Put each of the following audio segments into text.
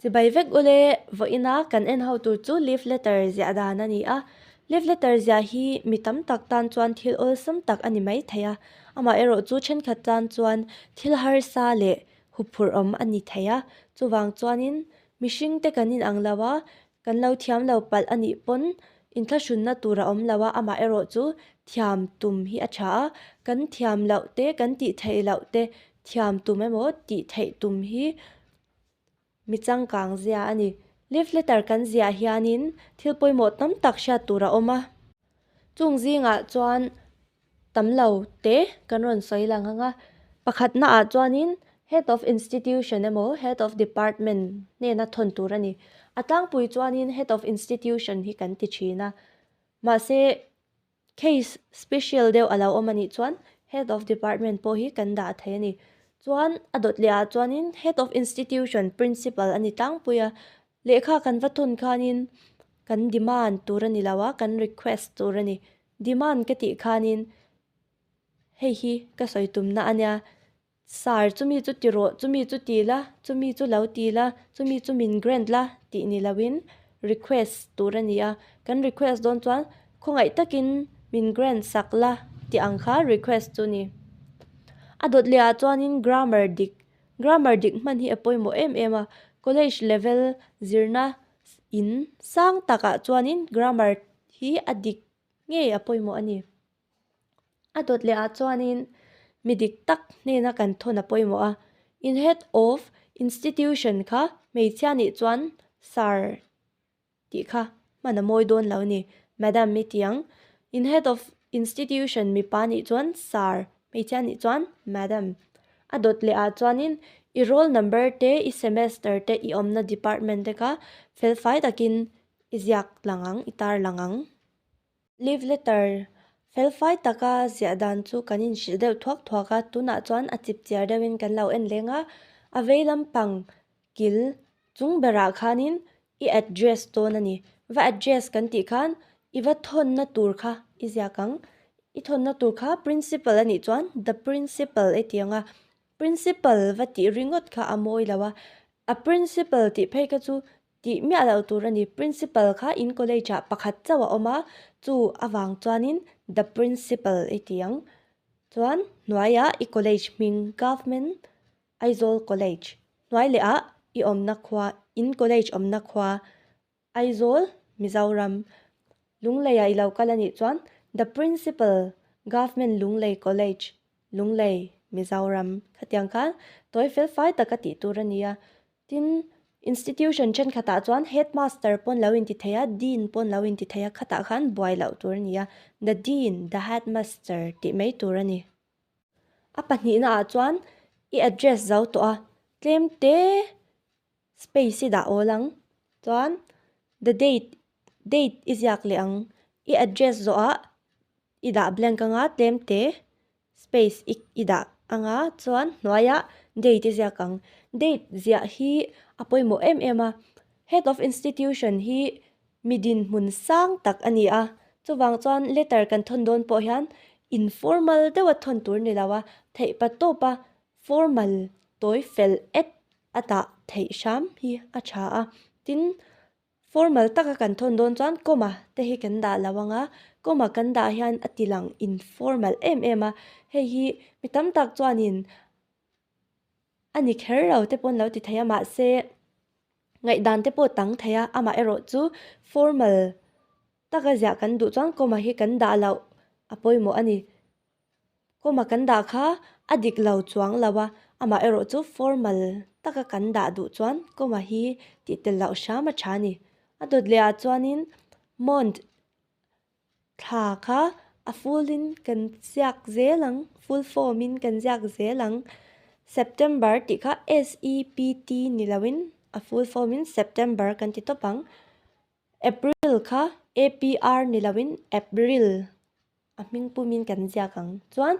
Chibai vek u le, vawiin a kan en ho tur chu leave letter ziah dan a ni a, leave letter ziah hi mi tam tak tan chuan thil awlsam tak a ni mai thei a, amah erawh chu thenkhat tan chuan thil harsa leh huphurhawm a ni thei a, chuvang chuanin mihringte kan inang lo a, Kan lo thiam lo palh a nih pawn in thlahrunna tur a awm lo a, amah erawh chu thiam tum hi a tha a. Kan thiam loh te, kan tih theih loh te thiam tum emaw tih theih tum hi mi changkang zia a ni. Love letter kan ziah hianin thil pawimawh tam tak hriat tur a awm a, chung zingah chuan. tam lo te kan rawn sawi lang ang a, pakhat na ah chuan in head of institution emaw head of department hnena thawn tur a ni, a tlangpui chuan in head of institution hi kan ti thin a, mahse case special deuh a lo awm a nih chuan head of department pawh hi kan dah thei a ni, chuan a dawt leh ah chuan in head of institution principal a ni tlangpui a, lehkha kan va thawn khan in kan demand tur a ni lo a kan request tur a ni. Demand ka tih khanin hei hi ka sawi tumna a nia, Sir chumi chu ti rawh, chumi chu ti la, chumi chu lo ti la, chumi chu min grant la tih ni loin request tur a ni a. Kan request dawn chuan khawngaih takin min grant sak la tih ang kha request chu ni. A dawt leh ah chuanin grammar dik, grammar dik hman hi a pawimawh em em a, college level zirna in sang takah chuanin grammar. Hi a dik ngei a pawimawh a ni. A dawt lehah chuanin mi dik tak hnena kan thawn a pawimawh a. In head of institution kha hmeichhia nih chuan sir tih kha hman a mawi dawn lo a ni. Madam i tiang. In head of institution mipa nih chuan sir, hmeichhia nih chuan madam. A dawt lehah chuanin i roll number te, i semester te, i awmna department te kha felfai takin I ziak lang ang, i tar lang ang. Leave letter felfai taka ziah dan chu kan inhrilh deuh thuak thuak a, tunah chuan a chip chiar deuhin kan lo en leng a. A vei lampang kil chung berah khanin i address dawn a ni. Va address kan tih khan i va thawnna tur kha i ziak ang. I thawnna tur kha Principal a nih chuan The Principal i ti ang a. Principal va tih ringawt kha a mawi lo a. A Principal tih phei kha chu Tih miah loh tur a ni. Principal kha in college ah pakhat chauh a awm a, chu avang chuanin The Principal i ti ang. Chuan hnuaia i college hming Government Aizawl College. Hnuai lehah i awmna khua, in college awmna khua Aizawl, Mizoram. Lungleiah i lo kal a nih chuan The Principal Government Lunglei College Lunglei, Mizoram, khatiang khan tawi felfai tak a tih tur a ni a, tin, institution thenkhatah chuan headmaster pawn lo inti thei a, dean pawn lo inti thei a, khatah khan buai loh tur a ni a, the dean, the headmaster tih mai tur a ni. A pahnihna ah chuan i address zo tawh a, tlem te Space i dah awl ang. Chuan the date, date i ziak leh ang. I address zawhah i dah blank anga tlemte space i i dah anga chuan hnuaia date i ziak ang. Date ziah hi a pawimawh em em a. Head of institution hi mi dinhmun sang tak a ni a. Chuvang chuan letter kan thawn dawn pawh hian informal deuha thawn tur ni lo a, theihpa tawpa formal tawi fel et a tah theih hram hi a tha a, tin, formal taka kan thawn dawn chuan comma te hi kan dah lo ang a, comma kan dah hian a tilang informal em em a, hei hi mi tam tak chuanin a ni kher lo te pawh an lo ti thei a, mahse, ngaihdan te pawh dang thei a, amaherawh chu formal taka ziah kan duh chuan comma hi kan dah loh a pawimawh a ni. Kawma kan dah kha a dik lo chuang lo a, amah erawh chu formal taka kan dah duh chuan kawma hi tih tel loh hram a tha a ni. A dawt leh ah chuanin mawnt thla kha a full in kan ziak zel ang, full form in kan ziak zel ang. September tih kha SEPT ni lo in a full form in September kan ti tawp ang. April kha APR ni lo in April. A hming pumin kan ziak ang chuan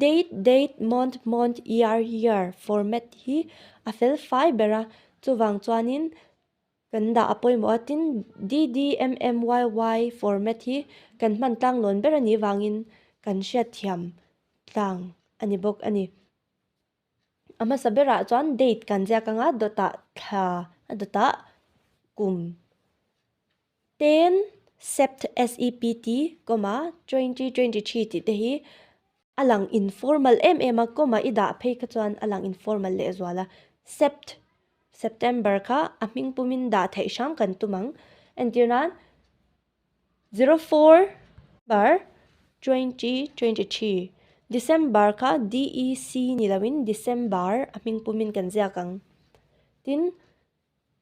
date, date, month, mont, year, year format hi a felfai ber a. Chuvang chuanin kan dah a pawimawh a, tin dd, mm, yy format hi kan hman tlang lawn ber a nih vangin kan hriatthiam tlang a ni bawk a ni. A hmasa berah chuan date kan ziak anga dawtah thla a dawtah kum ten sept sept comma twenty twenty three tih te hi a lang informal em em a comma i dah phei kha chuan a lang informal leh zual a sept september kha a hming pumin dah theih hrang kan tum ang entir nan. Zero four bar twenty twenty three December kha DEC ni lo in December a hming pum in kan ziak ang. Tin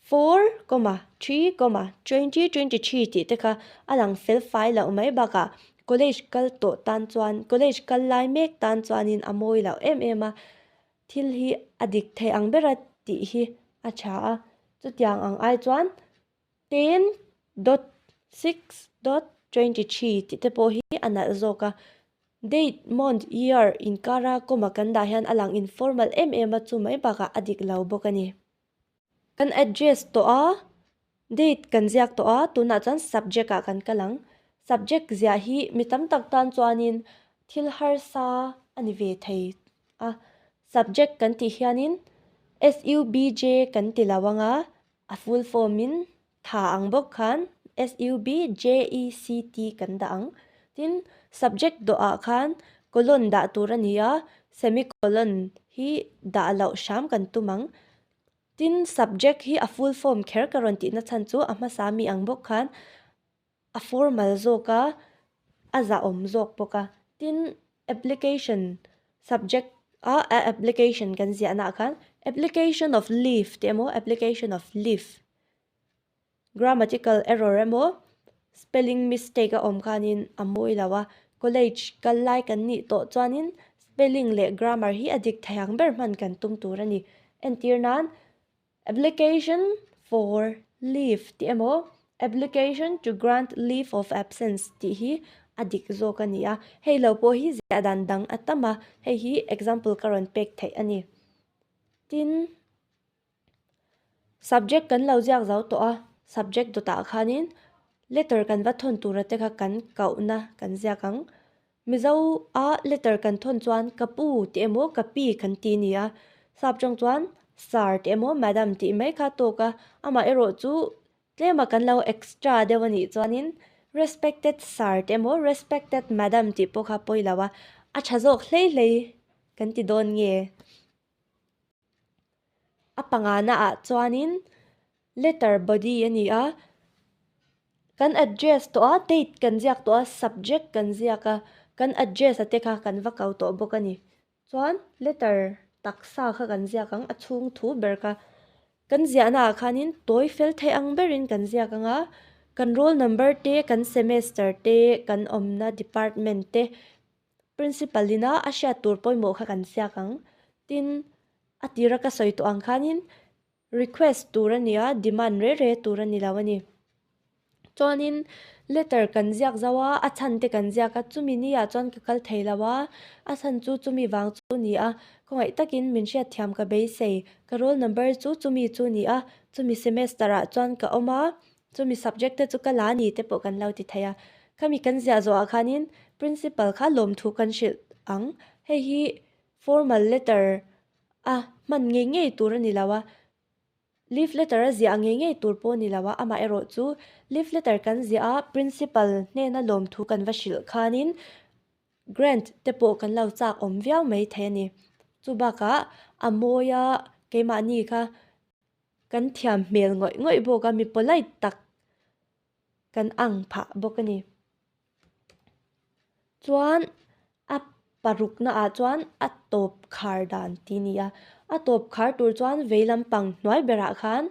four comma three comma twenty twenty three tih te kha a lang fel fai loh mai bak a college kal tawh tan chuan college kal lai mek tan chuan in a mawi loh em em a thil hi a dik theih ang ber a tih hi a tha a chutiang ang ai chuan 10.6.23 tih te pawh hi a nalh zawk a, date, month, year inkara kawma kan dah hian a lang informal em em a, chu mai bakah a dik lo bawk a ni. Kan address tawh a, date kan ziak tawh a, tunah chuan subject ah kan kal ang. Subject ziah hi mi tam tak tan chuanin thil harsa a ni ve thei a, subject kan tih hianin subj kan ti lo ang a, A full form in tha ang bawk khan SUB JECT kan dah ang. Tin, subject dawh ah khan colon dah tur a ni a, semicolon hi dah loh hram kan tum ang. Tin, subject hi a full form kher ka rawn tihna chhan chu a hmasa mi ang bawk khan a formal zawk a, a zahawm zawk bawk a. Tin, application subject a application kan ziah naah khan application of leave tih emaw application of live grammatical error emaw spelling mistake a awm khanin a mawi lo a. College kal lai kan nih tawh chuanin spelling leh grammar hi a dik thei ang ber hman kan tum tur a ni. Entir nan Application for leave tih emaw application to grant leave of absence tih hi a dik zawk a ni a. Hei lo pawh hi zia dan dang a tam a, hei hi example ka rawn pek theih a ni. Tin, subject kan lo ziak zo tawh a, subject dawtah khanin letter kan va thawn tura te kha kan koh na kan ziak ang. Mizo a letter kan thawn chuan ka pu tih emaw ka pi kan ti ni a, sap tawng chuan sir tih emaw madam tih mai kha tawk a, amah erawh chu tlema kan lo extra deuh a nih chuanin respected sir tih emaw respected madam tih pawh kha pawi lo a, a tha zawk hlei hlei kan ti dawn nge. A panga na ah chuanin letter body a ni a, kan address tawh a, date kan ziak tawh a, subject kan ziak a, kan address a te kha kan va kal tawh bawk a ni. Chuan letter taksa kha kan ziak ang, a chhung thu ber kha. Kan ziahna ah khanin tawi fel theih ang berin kan ziak ang a, kan roll number te, kan semester te, kan awmna department te. Principal ina a hriat tur pawimawh kha kan siak ang. Tin, a tira ka sawi tawh ang khanin request tur a ni a, demand reh reh tur a ni lo a ni. Chuanin letter kan ziak zauh a, a chhan te kan ziak a, chumi ni ah chuan ka kal thei lo a, a chhan chu chumi vang chu a ni a. Khawngaih takin min hriat thiam ka beisei, ka roll number chu chumi chu a ni a, chumi semester ah chuan ka awm a, Chumi subject te chu ka la ni te pawh kan lo ti thei a, khami kan ziah zawhah khanin Principal kha lawmthu kan hrilh ang, hei hi formal letter a hman ngei ngei tur a ni lo a, Leave letter a ziah ngei ngei tur pawh a ni lo a, amah erawh chu Leave letter kan ziah a Principal hnena lawmthu kan va hrilh khanin Grant te pawh kan lo chak awm viau mai thei a ni. Chubakah a mawia keimahni kha Kan thiam hmel ngawih ngawih bawk a, mi polite tak kan ang phah bawk a ni. Chuan a paruk na ah chuan a tawp khar dan tih ni a, a tawp khar tur chuan vei lampang hnuai berah khan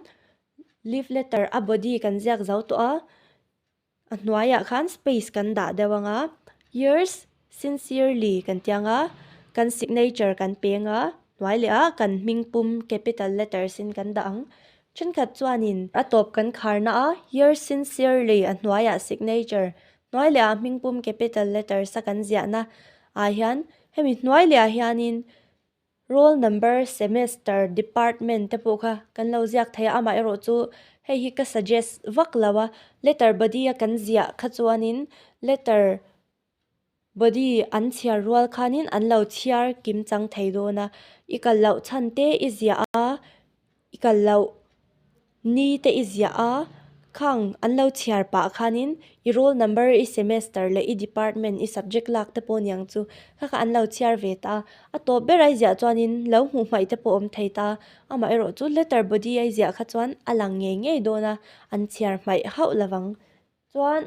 leave letter a body kan ziak zo tawh a. A hnuaiah khan space kan dah deuh ang a, yours sincerely kan tih ang a, kan signature kan peng a, hnuai leh a kan hming pum capital letters in kan dah ang. Thenkhat chuanin a tawp kan khar na a, yours sincerely a hnuaiah signature hnuai leh a hming pum capital letters a kan ziah na ah hian hemi hnuai leh ah hianin Roll number, semester, department te pawh kha kan lo ziak thei a, amaherawh chu hei hi ka suggest vak lo a, letter body a kan ziah kha chuanin letter body an chhiar rual khanin an lo chhiar kim chang thei dawn a, i kal loh chhante i ziah a. I kal loh, ni te i ziah a, khang an lo chhiar pah khanin i roll number, i semester leh i department, i subject lak te pawh niang chu kha kha an lo chhiar ve ta. A tawp ber ai ziah chuanin lo hmuh hmaih te pawh awm thei ta. Amah erawh chu letter body ai ziah kha chuan a lang ngei ngei dawn a, an chhiar hmaih hauh lovang. Chuan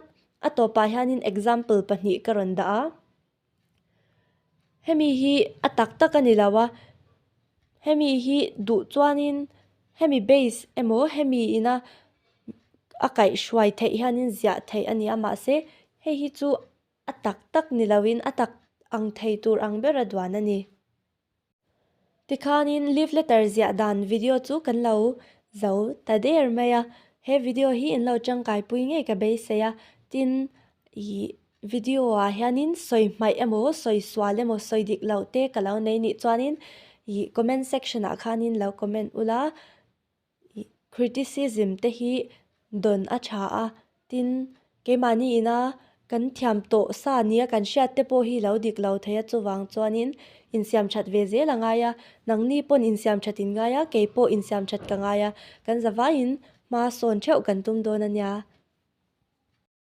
a tawpah hianin example pahnih ka rawn dah a. Hemi hi a tak tak a ni lo a hemi hi duh chuan in hemi base emaw hemi in a a kaih hruai theih hian in ziah theih a ni a mahse hei hi chu a tak tak ni lo in a tak ang thei tur ang ber a duan a ni. Tikhanin leave letter ziah dan video chu kan lo zo ta der mai a, he video hi in lo tangkai pui ngei ka beisei a, tin ih video ah hianin sawi hmaih emaw sawi sual emaw sawi dik loh te ka lo nei nih chuanin ih comment section ah khanin lo comment ula. Criticism te hi dawn a tha a, tin, keimahni ina kan thiam tawh sa nia kan hriat te pawh hi lo dik lo thei a chuvang chuanin insiam that ve zel a ngai a, nangni pawn insiam that in ngai a, kei pawh insiam that ka ngai a, kan zavaiin hma sawn theuh kan tum dawn a nia.